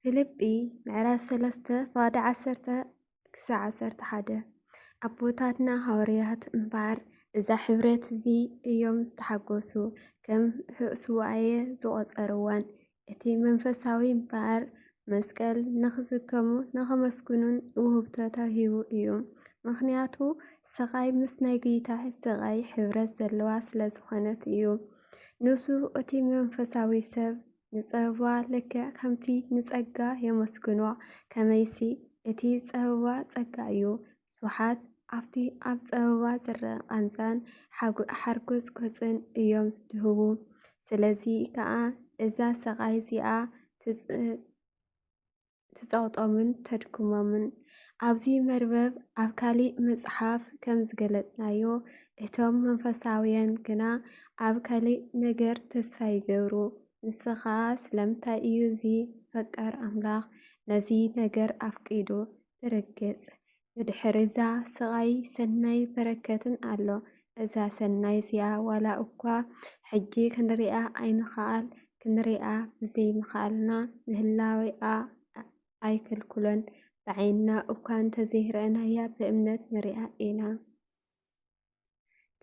ፊልጲ ምዕራፍ ሰለስተ ፋደ ዓሰርተ ክሳዕ ዓሰርተ ሓደ ኣቦታትና ሃዋርያት እምበኣር እዛ ሕብረት እዚ እዮም ዝተሓጎሱ ከም ስዋኣየ ዝቖጸርዋን እቲ መንፈሳዊ እምበኣር መስቀል ንኽዝከሙ ንኸመስግኑን ውህብቶ ተዋሂቡ እዩ። ምክንያቱ ስቓይ ምስ ናይ ጌታ ስቓይ ሕብረት ዘለዋ ስለ ዝኾነት እዩ። ንሱ እቲ መንፈሳዊ ሰብ ንጸበባ ልክዕ ከምቲ ንጸጋ የመስግኖ ከመይሲ እቲ ጸበባ ጸጋ እዩ። ብዙሓት ኣብቲ ኣብ ጸበባ ዝረኣ ቃንዛን ሓርጎጽ ጎጽን እዮም ዝድህቡ። ስለዚ ከኣ እዛ ሰቓይ እዚኣ ትጸቕጦምን ተድክሞምን። ኣብዚ መርበብ ኣብ ካሊእ መጽሓፍ ከም ዝገለጽናዮ እቶም መንፈሳውያን ግና ኣብ ካሊእ ነገር ተስፋ ይገብሩ። ንሱ ኸኣ ስለምንታይ እዩ እዚ ፈቃር ኣምላኽ ነዚ ነገር ኣፍቂዱ? ብርግጽ ብድሕሪ'ዛ ስቓይ ሰናይ በረከትን ኣሎ። እዛ ሰናይ እዚኣ ዋላ እኳ ሕጂ ክንሪኣ ኣይንክኣል፣ ክንሪኣ ብዘይምክኣልና ንህላዌኣ ኣይክልክሎን። ብዓይንና እኳ እንተዘይረኣናያ ብእምነት ንሪኣ ኢና።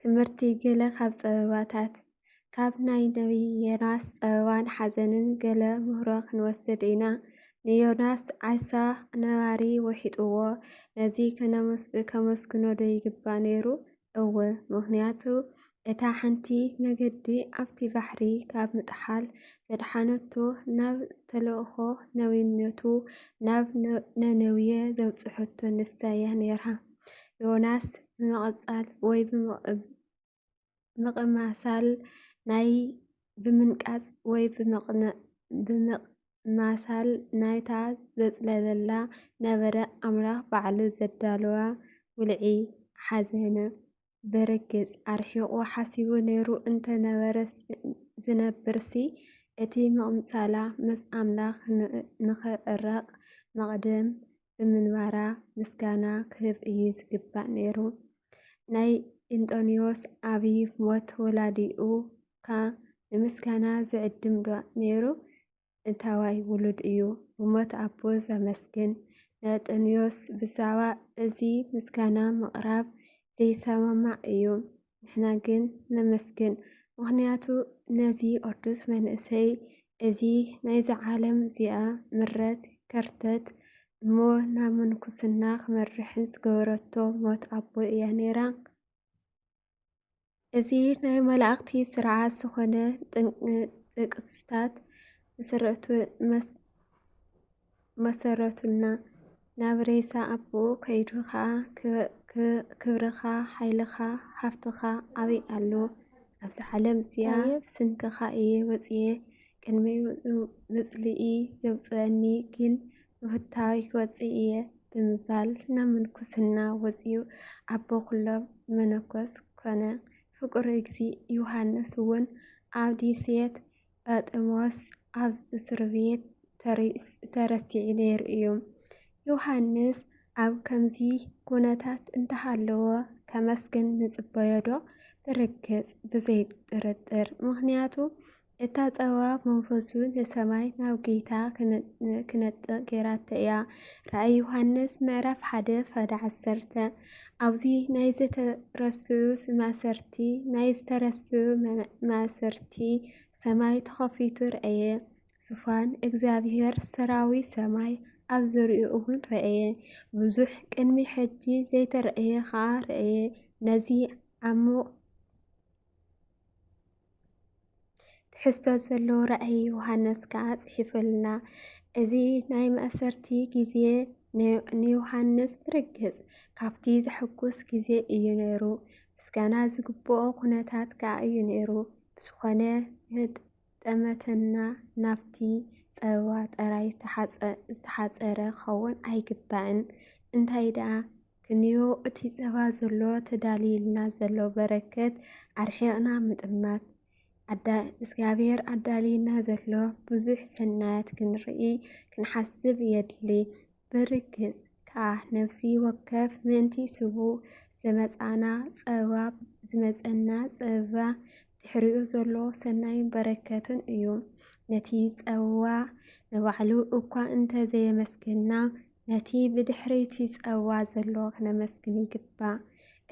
ትምህርቲ ገለ ካብ ጸበባታት ካብ ናይ ነቢይ ዮናስ ጸበባን ሓዘንን ገለ ምህሮ ክንወስድ ኢና። ንዮናስ ዓሳ ነባሪ ውሒጥዎ፣ ነዚ ከመስግኖ ዶ ይግባእ ነይሩ? እወ፣ ምኽንያቱ እታ ሓንቲ መገዲ ኣብቲ ባሕሪ ካብ ምጥሓል ዘድሓነቶ ናብ ተልእኾ ነቢይነቱ ናብ ነነዌ ዘብጽሐቶ ንሳ እያ ነይራ። ዮናስ ብምቕጻል ወይ ብምቕማሳል ናይ ብምንቃጽ ወይ ብምቕማሳል ናይታ ዘጽለለላ ነበረ ኣምላኽ ባዕሉ ዘዳለዋ ውልዒ ሓዘነ። ብርግጽ ኣርሒቑ ሓሲቡ ነይሩ እንተ ነበረስ ዝነብርሲ፣ እቲ ምቕምጻላ ምስ ኣምላኽ ንኽዕረቕ መቕድም ብምንባራ ምስጋና ክህብ እዩ ዝግባእ ነይሩ። ናይ እንጦንዮስ ዓቢ ሞት ወላዲኡካ ንምስጋና ዝዕድምዶ ነይሩ? እንታዋይ ውሉድ እዩ ብሞት ኣቦ ዘመስግን? ንእንጦንዮስ ብዛዕባ እዚ ምስጋና ምቕራብ ዘይሰማማዕ እዩ። ንሕና ግን ነመስግን፣ ምኽንያቱ ነዚ ቅዱስ መንእሰይ እዚ ናይዚ ዓለም እዚኣ ምረት ከርተት እሞ ናብ ምንኩስና ክመርሕን ዝገበረቶ ሞት ኣቦ እያ ነይራ። እዚ ናይ መላእኽቲ ስርዓት ዝኾነ ጥቅስታት መሰረቱና ናብ ሬሳ ኣቦኡ ከይዱ ኸኣ ክብርኻ፣ ሓይልኻ፣ ሃፍትኻ ኣበይ ኣሎ? ኣብዚ ዓለም እዚኣ ብስንክኻ እየ ወጺኤ፣ ቅድሚ ምጽልኢ ዘውጽኣኒ ግን፣ ሩታዊ ክወፅእ እየ ብምባል ናብ ምንኩስና ወፂኡ ኣቦ ኩሎም መነኮስ ኮነ። ፍቁር እግዚ ዮሃንስ እውን ኣብ ዲሴት ጳጥሞስ ኣብ እስር ቤት ተረሲዑ ነይሩ እዩ። ዮሃንስ ኣብ ከምዚ ኩነታት እንተሃለወ ከመስግን ንጽበዮ ዶ? ብርግጽ ብዘይ ጥርጥር። ምክንያቱ እታ ጸባብ መንፈሱ ንሰማይ ናብ ጌታ ክነጥቕ ጌራቶ እያ። ራእይ ዮሃንስ ምዕራፍ ሓደ ፈዳ ዓሰርተ ኣብዚ ናይ ዝተረስዑ ማእሰርቲ ናይ ዝተረስዑ ማእሰርቲ ሰማይ ተኸፊቱ ረአየ። ዙፋን እግዚኣብሔር ሰራዊ ሰማይ ኣብ ዝርኡ እውን ረአየ። ብዙሕ ቅድሚ ሕጂ ዘይተረእየ ኸዓ ረአየ። ነዚ ዓሙቕ ትሕዝቶ ዘለዎ ራእይ ዮሃንስ ከኣ ጽሒፈልና። እዚ ናይ ማእሰርቲ ግዜ ንዮሃንስ ብርግጽ ካብቲ ዘሐጉስ ግዜ እዩ ነይሩ፣ ምስጋና ዝግብኦ ኩነታት ከኣ እዩ ነይሩ። ብዝኾነ ጠመተና ናብቲ ጸበባ ጥራይ ዝተሓጸረ ክኸውን ኣይግባእን። እንታይ ደኣ ክንዮ እቲ ጸባ ዘሎ ተዳልይልና ዘሎ በረከት ኣርሒቕና ምጥማት እግዚኣብሔር ኣዳልይና ዘሎ ብዙሕ ሰናያት ክንርኢ ክንሓስብ የድሊ። ብርግጽ ከዓ ነፍሲ ወከፍ ምእንቲ ስቡ ዝመፃና ፀባ ዝመፀና ፀባ ድሕሪኡ ዘሎ ሰናይ በረከትን እዩ። ነቲ ፀዋ ንባዕሉ እኳ እንተዘየመስገና ነቲ ብድሕሪቲ ጸዋ ዘሎ ክነመስግን ይግባእ።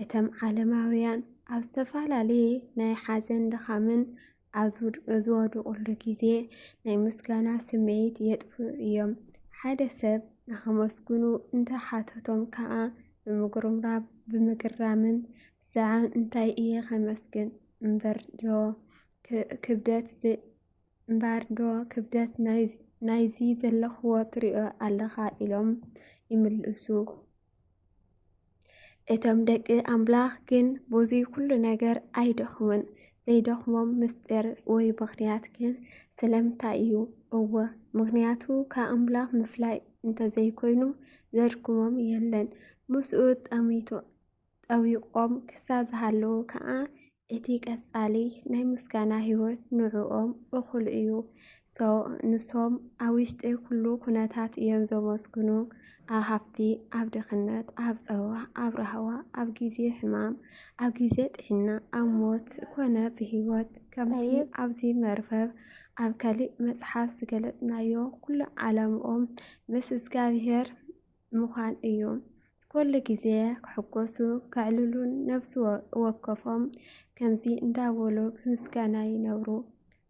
እተም ዓለማውያን ኣብ ዝተፈላለየ ናይ ሓዘን ድኻምን ኣብ ዝወድቑሉ ግዜ ናይ ምስጋና ስምዒት የጥፍኡ እዮም። ሓደ ሰብ ንኸመስግኑ እንተ ሓተቶም ከኣ ብምጉርምራብ ብምግራምን ዛዕም እንታይ እየ ከመስግን እምበር ዶ ክብደት እምበኣርዶ ክብደት ናይዚ ዘለኽዎ ትሪኦ ኣለኻ ኢሎም ይምልሱ። እቶም ደቂ ኣምላኽ ግን ብዙ ኩሉ ነገር ኣይደኽሙን። ዘይደኽሞም ምስጢር ወይ ምኽንያት ግን ስለምንታይ እዩ? እወ ምኽንያቱ ከኣምላኽ ምፍላይ እንተዘይኮይኑ ዘድክሞም የለን። ምስኡ ጠሚቱ ጠዊቖም ክሳብ ዝሃለዉ ከኣ እቲ ቀጻሊ ናይ ምስጋና ህይወት ንዕኦም እኹል እዩ። ንሶም ኣብ ውሽጢ ኩሉ ኩነታት እዮም ዘመስግኑ፣ ኣብ ሃብቲ፣ ኣብ ድኽነት፣ ኣብ ጸባ፣ ኣብ ራህዋ፣ ኣብ ግዜ ሕማም፣ ኣብ ግዜ ጥዕና፣ ኣብ ሞት ኮነ ብህይወት ከምቲ ኣብዚ መርበብ ኣብ ካልእ መጽሓፍ ዝገለጽናዮ ኩሉ ዓላምኦም ምስ እግዚኣብሔር ምዃን እዩ። ኩሉ ግዜ ክሕጎሱ ከዕልሉን ነብሲ ወከፎም ከምዚ እንዳበሉ ብምስጋና ይነብሩ።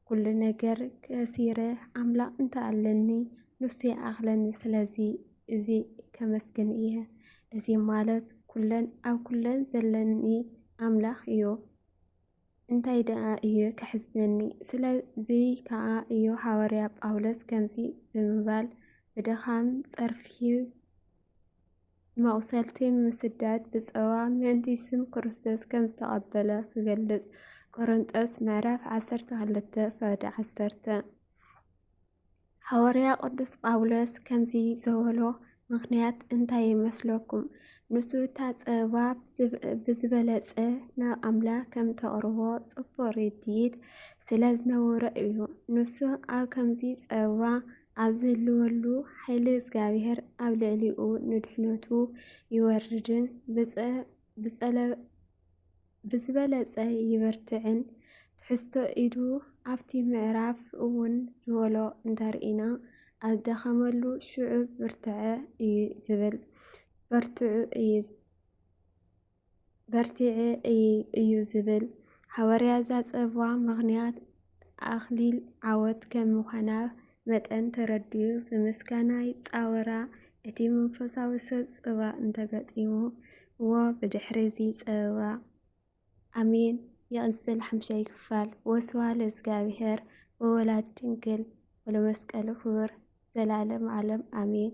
ኩሉ ነገር ከሲረ ኣምላኽ እንተ ኣለኒ ንሱ ይኣኽለኒ ስለዚ እዚ ከመስግን እየ። እዚ ማለት ኩለን ኣብ ኩለን ዘለኒ ኣምላኽ እዩ። እንታይ ደኣ እዩ ከሕዝነኒ? ስለዚ ከኣ እዩ ሃዋርያ ጳውሎስ ከምዚ ብምባል ብድኻም፣ ጸርፊ፣ መቝሰልቲ፣ ምስዳድ፣ ብጸዋ ምእንቲ ስም ክርስቶስ ከም ዝተቐበለ ክገልጽ፣ ቆረንቶስ ምዕራፍ ዓሰርተ ክልተ ፋድ ዓሰርተ። ሃዋርያ ቅዱስ ጳውሎስ ከምዚ ዝበሎ ምኽንያት እንታይ ይመስለኩም? ንሱ እታ ጸባብ ብዝበለጸ ናብ ኣምላኽ ከም ተቕርቦ ጽቡቕ ርድኢት ስለ ዝነበሮ እዩ። ንሱ ኣብ ከምዚ ጸባ ኣብ ዝህልወሉ ሓይሊ እግዚኣብሔር ኣብ ልዕሊኡ ንድሕነቱ ይወርድን ብዝበለፀ ይበርትዕን ትሕዝቶ ኢዱ ኣብቲ ምዕራፍ እውን ዝበሎ እንተርኢና ኣዝደኸመሉ ሽዑ ብርትዐ እዩ ዝብል በርትዑ እዩ በርቲዐ እዩ እዩ ዝብል ሓወርያ ዛፀብዋ ምኽንያት ኣኽሊል ዓወት ከም ምዃና መጠን ተረዲኡ ብምስጋና ይጻወራ፣ እቲ መንፈሳዊ ሰብ ጽባእ እንተ ገጢምዎ ብድሕሪ'ዚ ጸበባ ኣሜን ይቕጽል ሓምሻይ ክፋል። ወስብሃ ለእዝጋብሄር ወወላድ ድንግል ወለመስቀሉ ክቡር ዘላለም ዓለም ኣሜን።